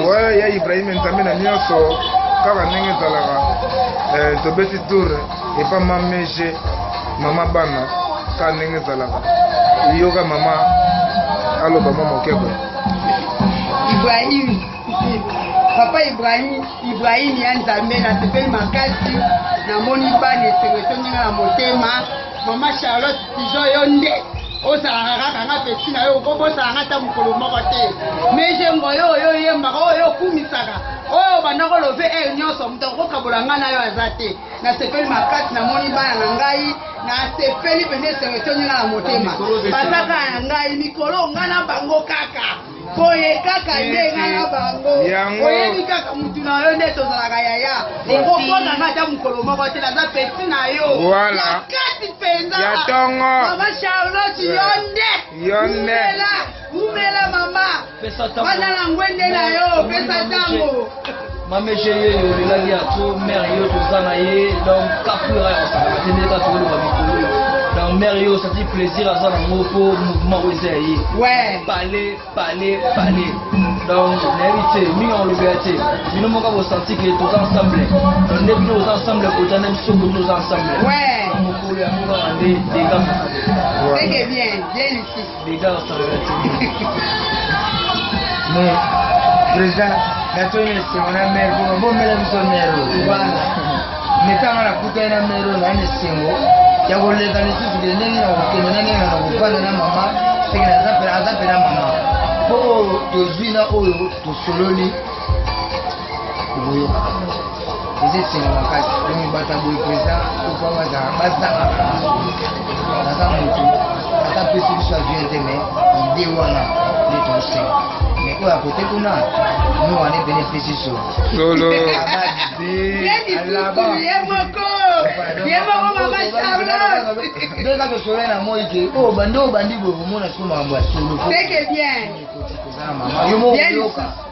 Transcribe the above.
Ouais, ya Ibrahim Nzambe na nyonso kaka ndenge ezalaka eh, tobeti tour epa mamege mama bana kaka ndenge ezalaka yoka mama aloba mwa moke boye Ibrahim papa Ibrahim Ibrahim ya Nzambe nasepeli makasi namoni bana esengo etongi nga na motema mama Charlotte Pigeon yo nde ozalaka kaka nga pesi na yo okobosaka nga ata mokolo moko te mejengo yo oyo oyembaka oyo okumisaka oyo bandako love e nyonso moto akokabola ngai na yo aza te nasepeli makasi namoni bana na ngai nasepeli mpenza esengo etoni nga na motema bazaka na ngai mikolo nga na bango kaka boye kaka nde nga na bango oyebi kaka mutu na yo nde tozalaka yaya okopona nga ata mokolo moko te naza pesi na yo ya kati mpenza mama charlotte yo nde umela umela mama wana na ngwende na yo pesa ntango mameshe ye yo olelaki ya tro mare yo toza na ye donc kapura ya kosalaka te ndeka tokoloba mikolo yo donc mare yo osati plaisir aza na ngo mpo mouvement oyo eza ya ye pale pale pale donc nayebi te mingi akolobela te bino moko bosanti ke toza ensemble donc nde bino oza ensemble kota nde biso kutu oza ensemble mokolo yango kaka nde dega mosala Bega asalaka te. Mais président gato nyonso wana mere kuna bomela biso mere oyo wana mitanga nakutani na mere oyo nani esengo ya koleka lisusu ke ndenge na kokende na ndenge na kofanda na mama seke aza mpe na mama mpo oyo tozwi na oyo tosololi eza esengo makasi oyo bato ya boye président opa bazala bazanga naza motu ata pesi biso avion te mai ide wana nde tosenga mai oyo akote kuna no wana ebene epesi so lolo ndeka tosole na moi ke oyo bande oyo bandi boye komona siko makambo ya solo yo moko oyoka